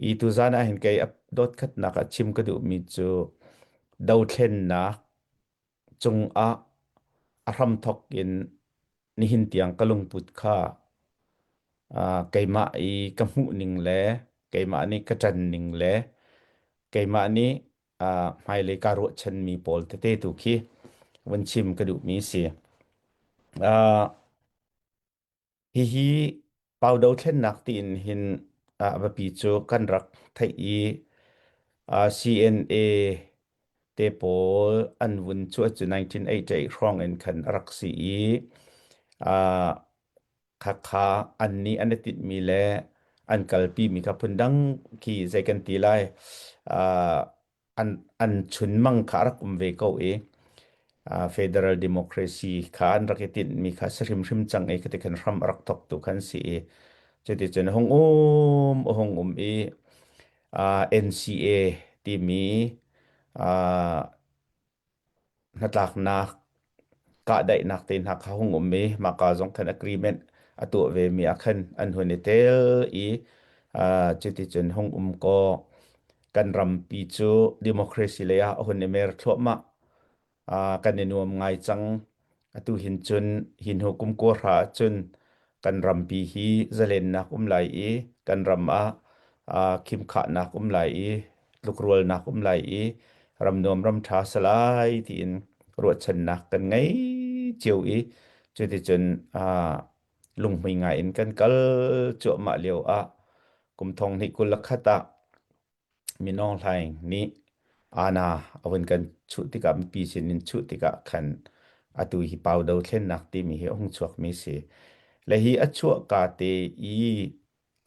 I tuzaan ah hin kei dotkhatnak ah chim ka duhmi cu dothlennak cung ah a hramthok in nihin tiang ka lungput kha uh, keimah i ka hmuh ning le keimah nih ka ṭan ning le keimah nih uh, hmailei ka ruahchanmi pawl tete tu khi vun chim ka duhmi si. Uh, Hihi pau dothlennak tiin hin ah a biapi cu kan rak theih i ah CNA te pawl an vun cuah cu 1988 hrawng in khan a rak si i ah khakha an nih an i tinhmi le an kalpimi kha phundang khi zei kan ti lai. ah an chunmang kha a rak um ve ko i federal democracy kha an rak i tinhmi kha si hrimhrim cang i khati khan hram a rak thawktu khan si i cuticun a hung um a hung um i NCA timi Hnatlaknak kahdaihnak te hna kha hung um i mahka zong khan agreement a tuah vemi ah khan an hun i tel i uh, cuticun hung um ko kan rampi cu democracy lei ah a hun i mer thluahmah uh, kan i nuam ngai cang Atu hin cun hi hnu kum kuahra ah cun kan rampi hi zalennak um lai i kan ram ah aa khimkhahnak um lai i tlukrualnak um lai i ram nuam ram ṭha salai tiin ruahchannak kan ngei cio i cuticun aa lunghmui ngai in kan kal cuahmah lio ah kum thong hnih kul le khat ah Mi Aung Hlaing nih Ana a vun kan chuh tikah mipi sin in chuh tikah khan atu hi pau dothlennak timi hi a hung chuakmi a si. Le hi a chuah ka te i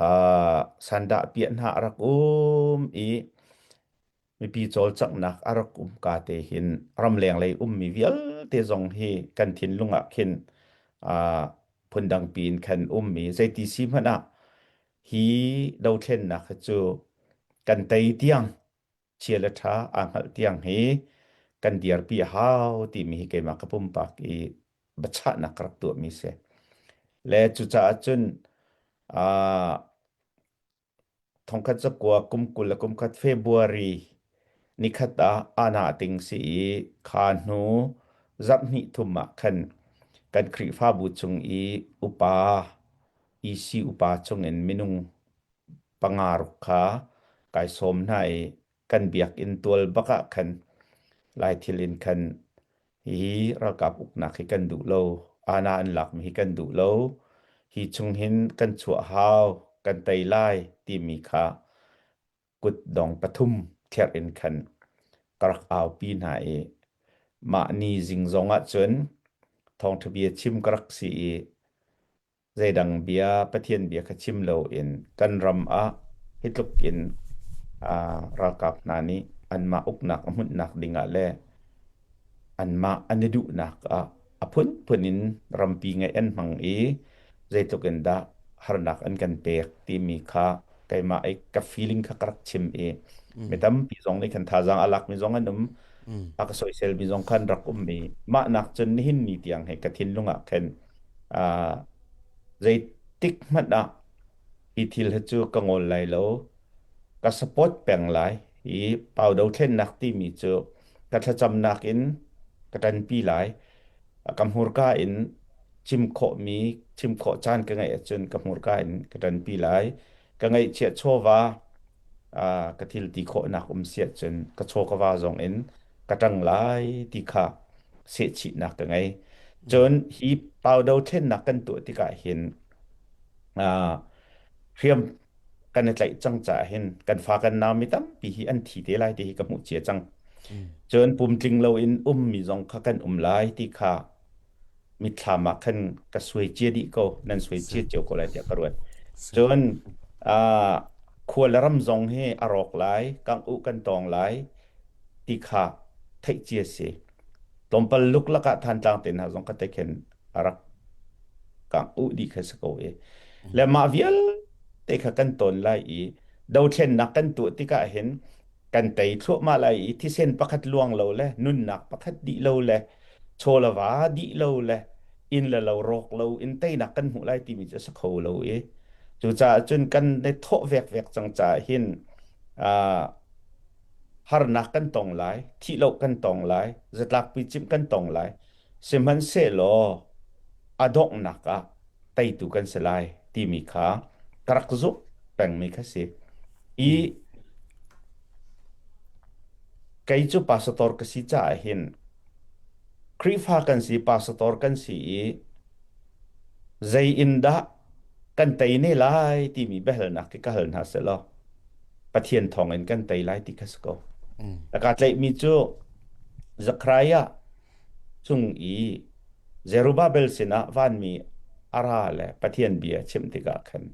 uh, sandah piah hna a rak um i mipi cawlcanghnak a rak um ka te hin ramleng lei ummi vialte zong hi kan thinlung ah khin uh, phundang piin khan ummi zeiti si hmanh ah hi dothlennak hi cu kan tei tiang chia le ṭha aa hngalh tiang hi kan dirpi a hau timi hi keimah ka pumpak i biachahnak ka rak tuahmi si. Le cucaah cun aa thongkhat cakua kum kul le kum khat February nikhat ah ana ting si i kha hnu zarh hnih thum ah khan kan Khrihfabu chung i upa Isi upa chungin minung panga ruk kha kai sawm hna i kan biakinn tual bak ah khan lai thil in khan hihi ralkap uknak hi kan duh lo, ana an lakmi hi kan duh lo, hi chung hin kan chuah hau, kan tei lai timi kha kut dong pathum therh in khan ka rak aupi hna i mah ni zing zong ah cun thawngṭha bia chim ka rak si i Zeidang bia Pathian bia kha chim loin kan ram ah hi tluk in ah, ralkap hna nih anmah uknak a hmunhnak dingah le anmah an i duhnak ah a phunphun in rampi ngeih an hmang i zeitluk in dah harnak an kan pek timi kha keimah i ka feeling kha ka rak chim i mi Mm, tampi zong nih kan thazaang a lakmi zong an um, mm, a ka soisel mi zong kha an rak um i mah nak cun nihin ni tiang hi ka thinlung ah khin Zeitik hmanh ah hi thil hi cu ka ngol lai lo. Ka support peng lai i pau dothlennak timi cu ka thlacamnak in ka ṭanpi lai. Ka hmurka in chim khawhmi, chim khawh caan ka ngeih ahcun ka hmurka in ka ṭanpi lai. Ka ngaihchiah chawva ka thil ti khawhnak um si ahcun ka chaw ka va zong in ka ṭang lai ti kha sehchihnak ka ngei. Cun hi paudo ṭhennak kan tuah tikah hin aa hriam kan i tlaih cang caah hin kan fa kan nau mi tampi hi an thi te lai ti hi ka hmuh cia cang. Cun pumtling loin ummi zong kha kan um lai ti kha mitthlam ah khan ka suai cia dih ko nan suai cia cio ko lai tiah ka ruat cun khua le ram zong hi a rawk lai kangh u kan tawng lai ti kha theih cia si tlawmpal luk lakah thantlang te hna zong ka te khin a rak kangh u dih kha si ko i le mah vialte kha kan ton lai i dothlennak kan tuah tikah hin kan tei thluahmah lai i thisen pakhat luang lo le nunnak pakhat dih lo le chawlava dih lo le inn le lo rawk lo in teinak kan hmuh lai timi cu a si kho lo i cucaah cun kan ne thawh vekvek cang caah hin ah, harnak kan tong lai thih lo kan tong lai zatlakpi cimh kan tong lai Sihmanhsehlaw a donghnak ah teitu kan si lai timi kha ka rak zumh pengmi kha si. I kei cu pastor ka si caah hin Khrihfa kan si, pastor kan si i zei in dah kan tei ne lai timi biahalnak khi ka hal hna selaw Pathian thawngin kan tei lai ti kha si ko. Ka tleihmi cu Zekhariah cung i Zerubbabel sinah vanmi a ra le Pathian bia chimh tikah khan,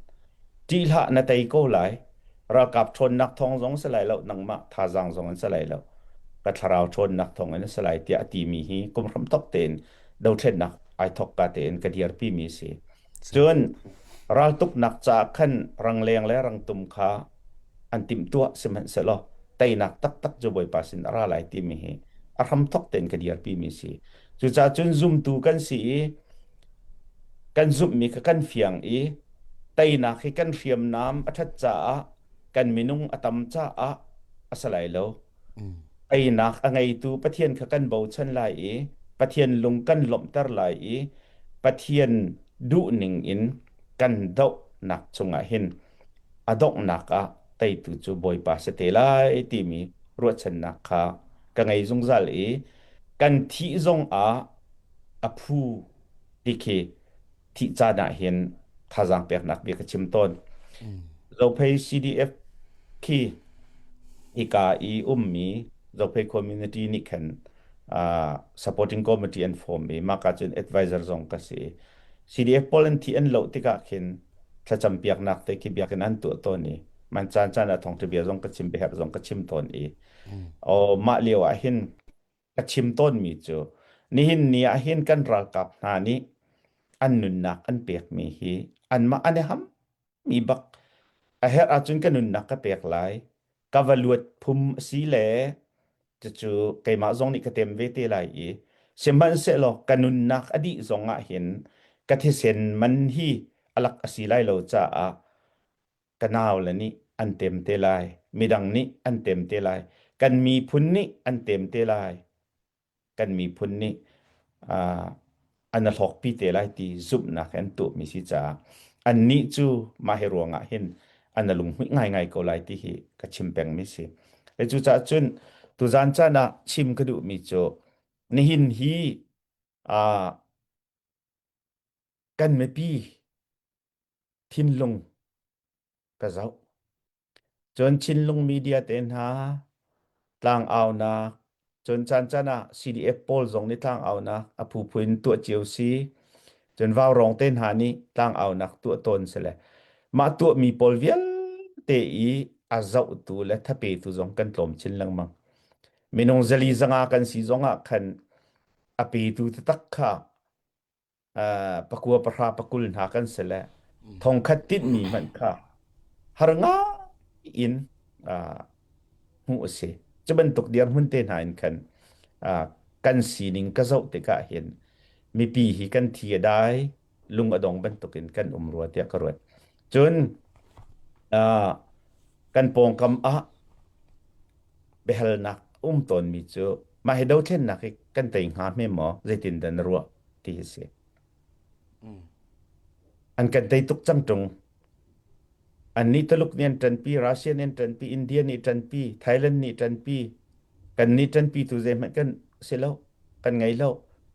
ṭih hlah na tei ko lai. Ralkap ṭhawnnak thawng zong si lai lo, nangmah thazaang zong in si lai lo, ka thlarau ṭhawnnak thawngin a si lai, tiah a timi hi kum hram tok tein dothlennak ai thawk ka tein ka dirpimi a si. Cun raltuknak caah khan rangleng le rangtum kha an timhtuah sihmanhsehlaw teinak taktak cu Bawipa sin a ra lai timi hi a hramthok tein ka dirpimi a si. Cucaah cun zumtu kan si i kan zumhmi kha kan fiang i teinak hi kan hriamnam a ṭhat caah kan minung a tam caah a si lai lo. Einak a ngeitu Pathian kha kan bochan lai i Pathian lung kan lawmhter lai i Pathian duhning in kan dohnak cungah hin a donghnak ah teitu cu Bawipa si te lai timi ruahchannak kha ka ngei zungzal i kan thih zong ah a phu ti khi thih caan ah hin thazaang peknak bia ka chim tawn. Zophei CDF khi hika i ummi Zophei community nih khan uh, supporting committee an form i maka cun advisor zong ka si. CDF pawl an thi an lo tikah khin thlacam piaknak te khi biakin an tuah tawn i man caan caan ah thong bia zong ka chim beher zong ka chim tawn i o mah lio ah hin ka chim tawnmi cu nihin ni ah hin kan ralkap hna nih an nunnak an pekmi hi anmah an i ham mi bak a herh ahcun ka nunnak ka pek lai ka va luat phum a si le cucu keimah zong nih ka tem ve te lai i sihmanhsehlaw ka nunnak a dih zong ah hin ka thisen man hi alak a si lai lo caah ka naule nih an tem te lai midang nih an tem te lai kan miphun nih an tem te lai kan miphun nih an a hlawkpi te lai ti zumhnak in tuahmi si caah annih cu mah hi ruangah hin an a lunghmuih ngaingai ko lai ti hi ka chim pengmi si le cucaah cun tuzan caan ah chim ka duhmi cu nihin hi kan mipi thinlung ka zoh. Cun Chinlung media te hna tlangaunak cun caan caan ah CDF pawl zong nih tlangaunak a phu in tuah cio si. Cun Vaurong te hna nih tlangaunak tuah tawn si le mah tuah mi pawl vialte i a zohtu le thapetu zong kan tlawm chin lengmang. Minung zali zanga kan si zong ah khan a petu te tak kha uh, pakua pahra pakul hna kan si le thongkhat tinhmi hmanh kha har ngai in uh, hmuh a si cu bantuk dir hmun te hna in khan uh, kan sining ka zoh tikah hin mipi hi kan thi a dai lung a dong bantukin kan um rua tiah ka ruat cun uh, kan pawngkam ah biahalnak a um tawnmi cu mah hi dothlennak hi kan tei hnga hme maw zeitindah na ruah ti hi si. An kan tei tuk cang ṭung. Annih Taluk nih an ṭanpi, Russia nih an ṭanpi, India nih ṭanpi, Thailand nih ṭanpi. Kannih ṭanpi tu zeihmanh kan si lo, kan ngei lo.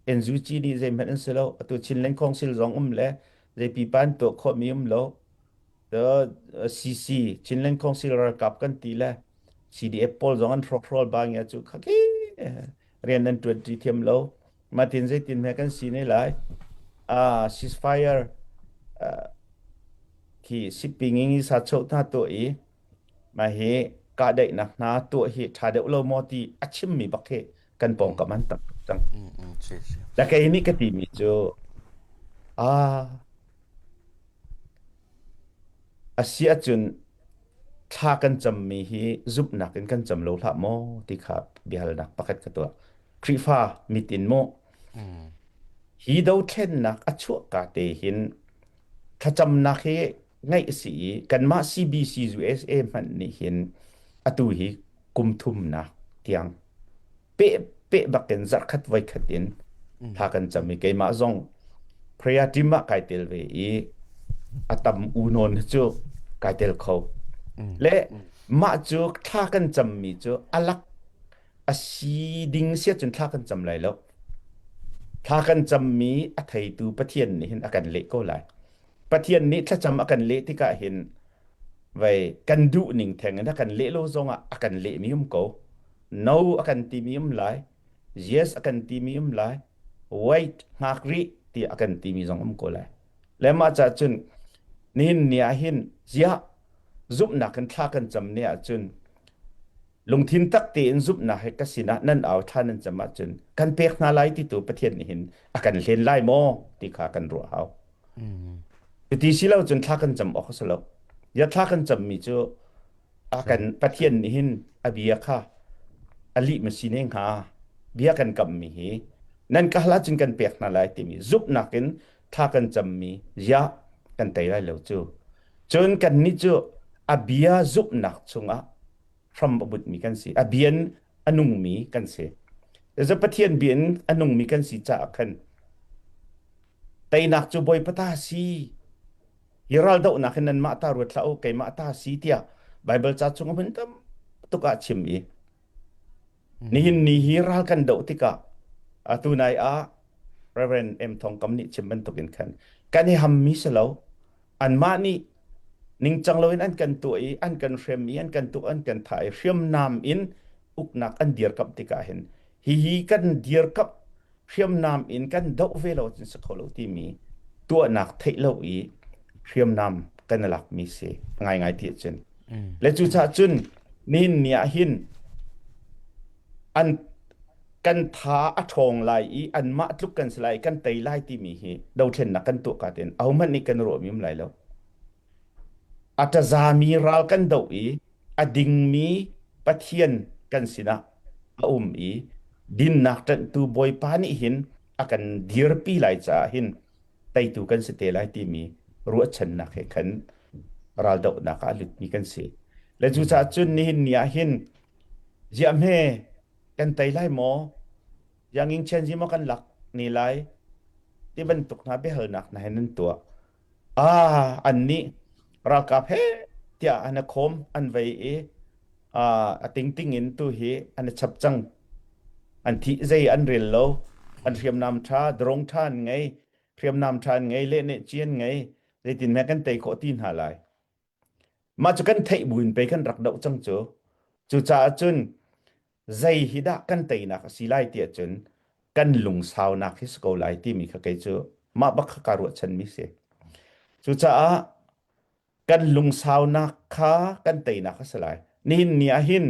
NUG nih zeihmanh an si lo. Atu Chin Lengkhawng sil zong um le zei pipa an tuah khawhmi um lo. CC Chinland Council ralkap kan ti le CDF pawl zong an hrokhrol ba nge cu khaki rian an tuan ti thiam lo ma tin zeitin me kan si ne lai a ceasefire khi siping ngi sa chau tha to i ma hi ka dei nak hna to hi tha deuh lo mo ti a chim mi bak hi kan pawngkam an tam tuk cang. Mm, mm, si, si. Na kei nih ka timi cu, ah, a si ahcun thla kan cammi hi zumhnak in kan cam lo hlah maw ti kha biahalnak pakhat ka tuah. Khrihfa mit in maw, Mm, hi dothlennak a chuah ka te hin thlacamnak hi ngaih a si i kanmah CBC USA hmanh nih hin atu hi kum thumnak tiang pehpeh bakin zarkhat voikhat in mm. thla kan cam i keimah zong prayer team ah kai tel ve i atam unon cu kai tel kho mm. le mah cu thla kan cam mi cu alak asi ding sia cun thla kan cam lai lo thla kan cam mi a theitu pathian nih hin a kan leh ko lai Pathian nih thlacam a kan leh tikah hin vei kan duh ning thengin a kan leh lo zongah a kan lehmi um ko. No a kan timi um lai. Yes a kan timi um lai. Wait ngak rih ti a kan timi zong um ko lai. Le mah cah cun nihin ni ah hin ziah zumhnak kan thla kan cam ni ah cun lungthin tak tein zumhnak he ka sinah nan au tha nan cam ah cun kan pek hna lai ti tu Pathian nih hin a kan hlen lai maw ti kha kan ruah hau. Cuti si lo cun thla kan cam awk a si lo. Ya thla kan cammi cu a kan Pathian nih hin a bia kha a lih ma si ne hnga bia kan kammi hi nan kahal ahcun kan pek hna lai timi zumhnak in thla kan cammi ya kan tei lai lo cu. Cun kannih cu a bia zumhnak chungah hram a butmi kan si a bia in a nungmi kan si Zecu Pathian bia in a nungmi kan si caah khan teinak cu bawi pata si hi raldohnak hin nan mah ta ruat hlah u keimah ta si tiah Bible ca chung a hun tam tuk ah chim i Nihin ni hi ral kan doh tikah atu nai ah Reverend M Thawngkam nih chim bantukin khan kan i hammi si lo anmah nih ningcang loin an kan tuah i an kan hrem i an kan tuah an kan thah i hriamnam in uknak an dirkamh tikah hin hihi kan dirkamh hriamnam in kan doh ve lo cun si kho lo timi tuahnak theih lo i hriamnam kan i lakmi si ngaingai ti cun Mm. le cucah cun nin ni ah hin an kan tha a ṭhawng lai i anmah tluk kan si lai kan tei lai timi hi dothlennak kan tuah ka ten ahohmanh nih kan ruahmim lai lo A ṭazami ral kan doh i a dingmi pathian kan sinah a um i dinnak ṭanhtu Bawipa nih hin a kan dirpi lai caah hin teitu kan si te lai timi ruahchannak he khan raldohnak ah a lutmi kan si. Le cucaah cun nihin ni ah hin ziahme kan tei lai maw? Ziangingchian zi maw kan lak ni lai? Ti bantuk hna biahalnak hna he nan tuah. Ah, an nih ralkap he tiah an a khawm an vei i ah, a tingting in tu hi an a chap cang. An thih zei an rel lo. An hriamnam ṭha, drone ṭha an ngei. Hriamnam ṭha an ngei, leh neh ci an ngei. Zeitin meh kan tei khawh ti hna lai. Mah cu kan theih buin pei kan rak doh cang cu. Cucaah cun zei hi dah kan teinak a si lai tiah cun kan lungsaunak hi si ko lai timi kha kei cu mah bak kha kaa ruahchanmi si. Cucaah kan lungsaunak kha kan teinak a si lai. Nihin ni ah hin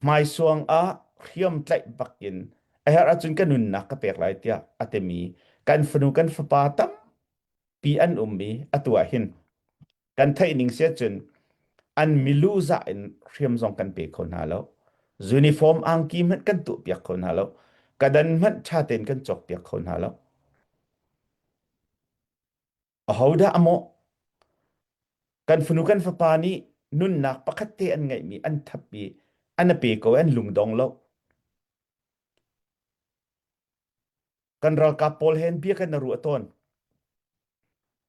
hmaisuang ah hriam tlaih bak in a herh ahcun ka nunnak ka pek lai tiah a timi kan fanu kan fapa tam pi an um i atu ah hin kan theih ning sia cun an milu za in hriam zong kan pe kho hna lo uniform angki hmanh kan tuh piak kho hna lo kadan hmanh tha tein kan cawk piak kho hna lo ahodah amaw kan funu kan fapa nih nunnak pakhat te an ngeihmi an thappi an a pe ko an lungdong lo Kan ralkap pawl hen biakan a ruah tawn.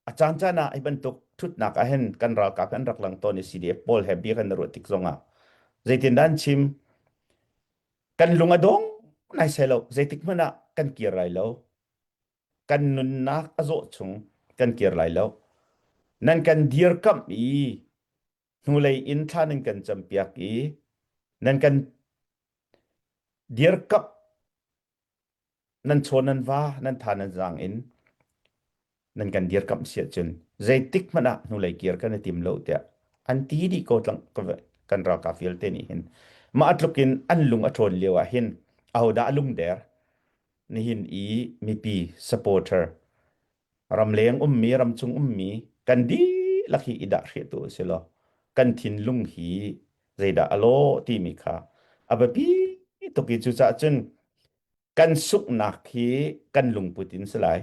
A caan caan ah hi bantuk thutnak ah hen kan ralkap an rak lang tawn i CDF pawl he biakan a ruah tik zong ah zeitin dan chim kan lung a dong nai sai lo zeitik hmanh ah kan kir lai lo kan nunnak a zawh chung kan kir lai lo nan kan dir kam i hnulei in thla nan kan campiak i nan kan dir kap nan chaw nan va nan tha nan zaang in nan kan dirkamh si ahcun zeitik hmanh ah hnulei kir kan i tim lo tiah an ti dih ko tlang kan ralkap vialte nih hin mah tluk in an lung a ṭawn lio ah hin ahodah a lung der nihin i mipi supporter ramleng ummi ramchung ummi kan dihlak hi i dahhrehtu a si law kan thinlung hi zeidah a law timi kha a biapi tuk i cucaah cun kan sunghnak hi kan lungput in si lai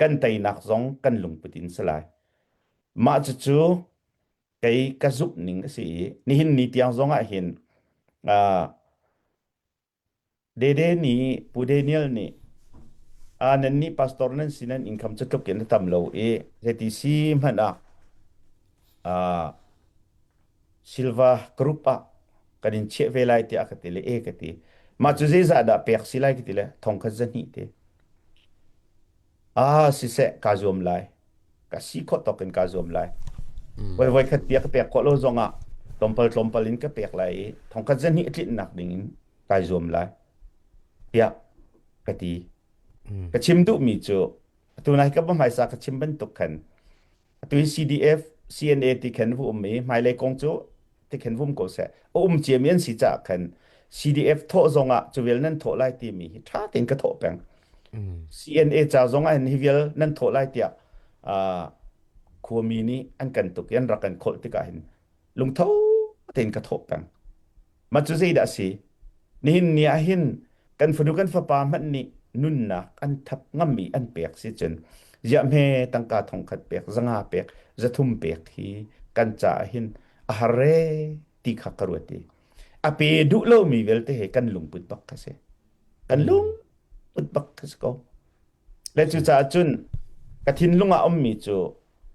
kan teinak zong kan lungput in si lai mah cucu kei ka zumh ning a si i nihin ni tiang zong ah hin Dede nih Pu Daniel nih aa nannih pastor nan si nan income cu tluk in a tam lo i zeiti si hmanh ah aa silver group ah kan in chiah ve lai tiah a ka ti le e ka ti. Mah cu zeizah dah pek si lai ka ti le thong khat zahnih te. ah siseh kaa zuam lai ka si khawh tawk in kaa zuam lai voi Mm. voi khat bia ka pek khawh lo zong ah tlawmpal tlawmpal in ka pek lai i thongkhat zahnih tlinnak ding in kai zuam lai tiah ka ti Mm. ka chim duhmi cu atu nai ka va hmaisa ka chim bantuk khan Atu in CDF, CNA ti khan vu um i hmailei kong cu ti khan vum ko seh. A um ciami an si caah khan CDF thawh zong ah cuvel nan thawh lai timi hi ṭha tein ka thawh peng. CNA ca zong ah hin hi vial nan thawh lai tiah uh, khuami nih an kan tuk i an rak kan kholh tikah hin lungtho tein ka thawh peng. Mah cu zeidah a si? Nihin ni ah hin kan fanu kan fapa hmanh nih nunnak an thap ngam i an pek si cun ziahhme tangka thongkhat pek, zanga pek, zathum pek hi kan caah hin a har ee ti kha ka ruat i a pe duh lomi vialte he kan lungput bak kha si. Kan lungput bak kha si ko. Le cucaah cun ka thinlung ah a ummi cu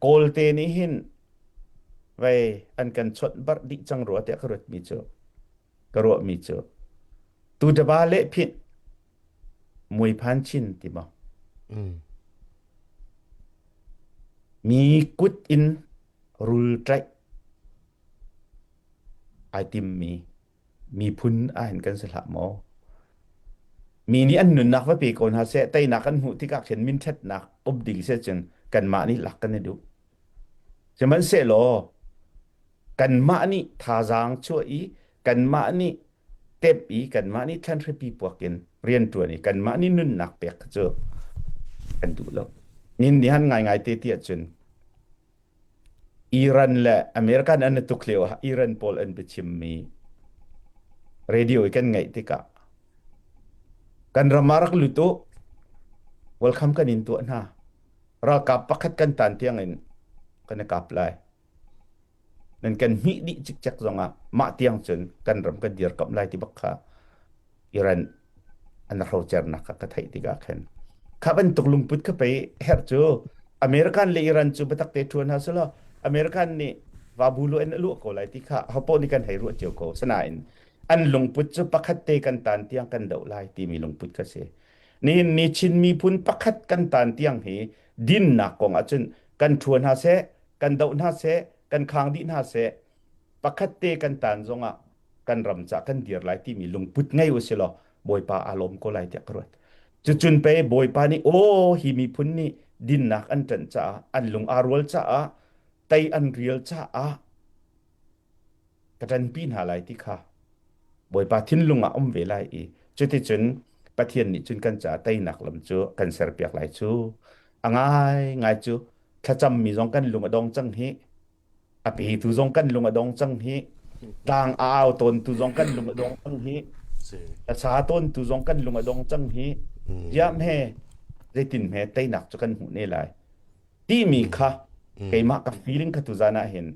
kawlte nih hin vei an kan chawnh barh dih cang rua tiah ka ruatmi cu ka ruahmi cu tu daba le phit mui phan chin ti maw mi kut in rul tlaih ai timmi miphun ahin kan si hlah maw. Mi nih an nunnak va pe ko hna seh, teinak an hmuh tikah khin minṭhatnak uk ding seh cun kanmah nih lak kan i duh. Sihmanhsehlaw kanmah nih thazaang chuah i kanmah nih tep i kanmah nih thlanhripi puak in rianṭuan i kanmah nih nunnak pek cu kan duh lo. Nin nih han ngaingai te tiah cun Iran le American an i tuk lio ah Iran pawl an biachimmi radio i kan ngaih tikah kan ram ah rak lut u, welcome kan in tuah hna. Ralkap pakhat kan tan tiang in kan i kap lai. Nan kan hmih dih cikcek zong ah mah tiang cun kan ram kan dir kamh lai ti bak kha Iran an hrocernak kha ka theih tikah khan kha bantuk lungput ka pei herh cu American le Iran cu biatak te ṭhuan hna sulaw American nih vabulu an luah ko lai ti kha hopoh nih kan hei ruah cio ko asinain an lungput cu pakhat te kan tan tiang kan doh lai timi lungput ka si nihin ni Chin miphun pakhat kan tan tiang hi dinnak kong ahcun kan ṭhuan hna seh kan doh hna seh kan khang dih hna seh pakhat te kan tan zongah kan ram ca kan dir lai timi lungput ngei u si law bawipa aa lawm ko lai tiah ka ruat cucun pe bawipa nih aw hi miphun nih dinnak an ṭanh caah an lung aa rual caah tei an rial caah ka ṭanpi hna lai ti kha bawipa thinlung ah um ve lai i cuticun pathian nih cun kan caah teinak lam cu kan serpiak lai cu a ngai ngai cu thlacam mi zong kan lung a dong cang hi A petu zong kan lung a dong cang hi. Tlang a au tawntu zong kan lung a dong cang hi. A sa tawntu zong kan lung a dong cang hi. Diam he, zeitin he teinak cu kan hmuh ne lai. Timi kha, keimah ka feeling ka tu zan ah hin.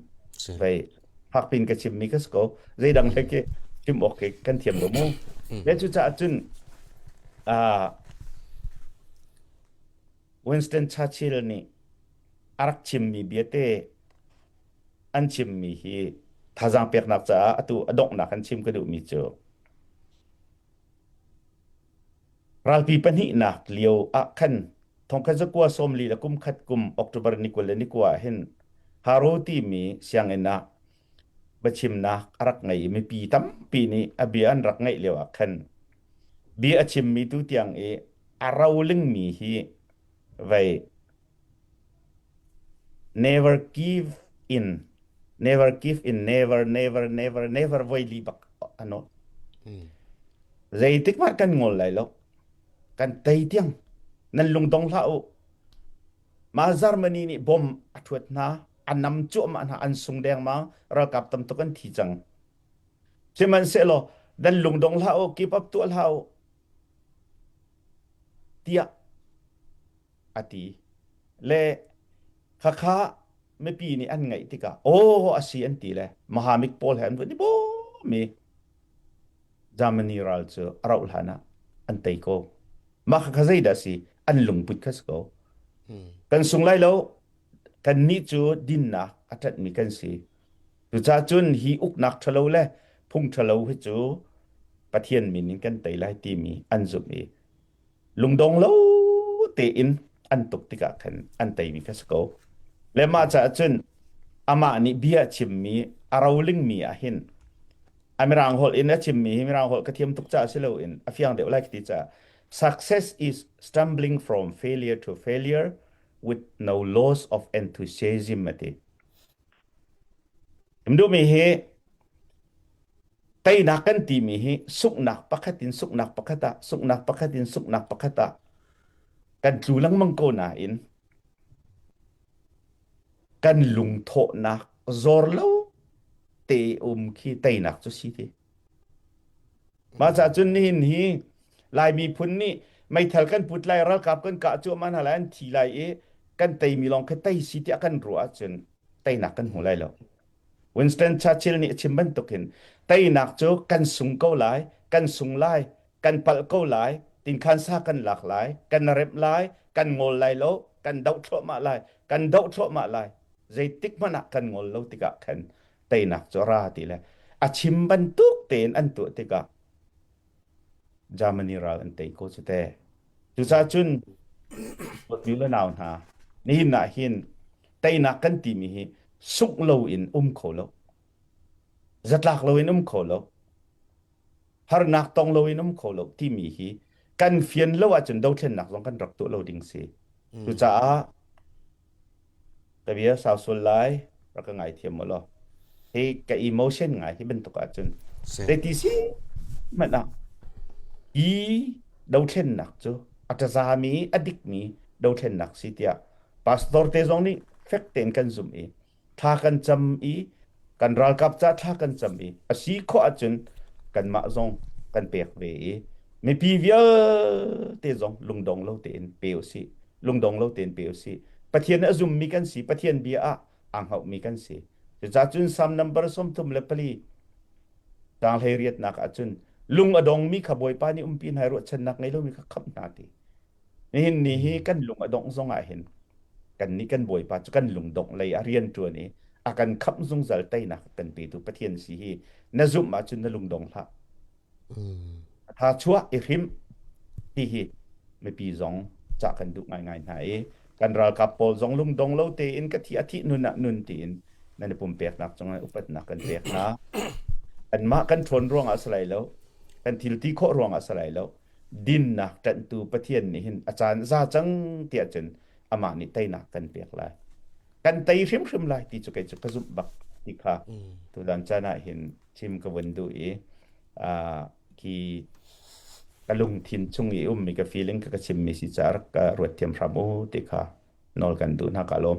Vai, hakpin ka chim mi ka sko. Zeidang he ke chim ok ke kan thiam lo mu. Me cu ca cun, ah, Winston Churchill nih a rak chimmi viate an chimmi hi thazaang peknak caah atu a donghnak an chim ka duhmi cu ralpi pahnihnak lio ah khan thongkhat zakua sawmli le kumkhat kum October ni kul le ni kua ah hin Haro timi sianginn ah biachimnak a rak ngei i mipi tampi nih a bia an rak ngaih lio ah khan bia a chimmi tu tiang i a rolingmi hi vei never give in never give in never never never never voi li bak ano zeitik mah kan ngol lai lo kan tei tiang nan lungdong hlah u ma Germany nih bom a thuat hna a nam cuahmah hna an sung dengmang ralkap tam tuk an thi cang sihmanhsehlaw dan lungdong hlah u keep up tuah hlah u tiah a ti le khakha mipi nih an ngaih tikah aw a si an ti le mahamik pawl he an vuan ni bo mi Germany ral cu a rauh hlan ah an tei ko mah kha kha zei dah si an lungput kha si ko kan sung lai lo kannih cu dinnak a ṭanhmi kan si. Cucaah cun hi uknak ṭhalo le phung ṭhalo hi cu Pathian min in kan tei lai timi an zumh i lungdong lo tein an tuk tikah khan an teimi kha si ko. Le mah caah cun amah nih bia a chimmi a rolingmi ah hin a mirang holh in a chimmi hi mirang holh ka thiam tuk caah si loin a fiang deuh lai ka ti caah success is stumbling from failure to failure with no loss of enthusiasm a ti. Duhmi hi teinak kan timi hi suknak pakhat in suknak pakhat ah suknak pakhat in suknak pakhat ah kan tlu lengmang ko nain kan lungthawhnak zor lo te um khi teinak cu si ti Mahca cun nihin hi Lai miphun nih meithal kan put lai, ralkap kan kah cuah man hala an thi lai i kan teimi lawng khi tei si tiah kan ruah ahcun teinak kan hmu lai lo. Winston Churchill nih a chim bantukin teinak cu kan sung ko lai, kan sung lai, kan palh ko lai, tinkhan sa kan lak lai, kan remh lai, kan ngol lai lo, kan doh thluahmah lai, kan doh thluahmah lai, zeitik hmanh ah kan ngol lo tikah khan teinak cu ra ti le a chim bantuk tein an tuah tikah Germany ral an tei ko cu te. Cucaah cun Latviu le nau hna nihin ah hin teinak kan timi hi sungh lo in um kho lo. Zatlak lo in um kho lo. Harnak tong lo in um kho lo timi hi kan fian lo ahcun dothlennak zong kan rak tuah lo ding si. Cucaah ka bia sau sual lai rak ka ngaithiam maw law hi ka emotion ngai hi bantuk ahcun zeiti si hmanh ah i dothlennak cu a ṭazami a dikmi dothlennak si tiah pastor te zong nih fek tein kan zumh i thla kan cam i kan ralkap ca thla kan cam i a si khawh ahcun kanmah zong kan pek ve i mipi vialte zong lungdong lo tein pe usih lungdong lo tein pe usih Pathian a zummi kan si Pathian bia ah aa hngaumi kan si cucahcun Psalm number sawmthum le pali tang hlei riatnak ahcun lung a dongmi kha Bawipa nih umpi hna i ruahchannak ngei lomi kha khamh hna ti Nihin ni hi kan lung a dongh zong ah hin kan nih kan Bawipa cu kan lungdongh lei a rianṭuan i a kan khamh zungzal teinak kan petu Pathian si hi na zumh ahcun na lungdong hlah. A tha chuah i hrim hihi mipi zong cah kan duh ngaingai hna i kan ralkap pawl zong lungdong lo tein ka thi a thih nun ah nun tiin nan i pumpeknak cungah upatnak kan pek hna. Kanmah kan ṭhawn ruangah a si lai lo, kan thilti khawh ruangah a si lai lo, dinnak ṭanhtu Pathian nih hin a caan a za cang tiah cun amah nih teinak kan pek lai. Kan tei hrimhrim lai ti cu kei cu ka zumh bak ti kha tutan caan ah hin chim ka vun duh i uh, ki ka lungthin chung i ummi ka feeling ka ka chimmi si caah rak ka ruat thiam hram u ti kha nawl kan duh hna ka lawm.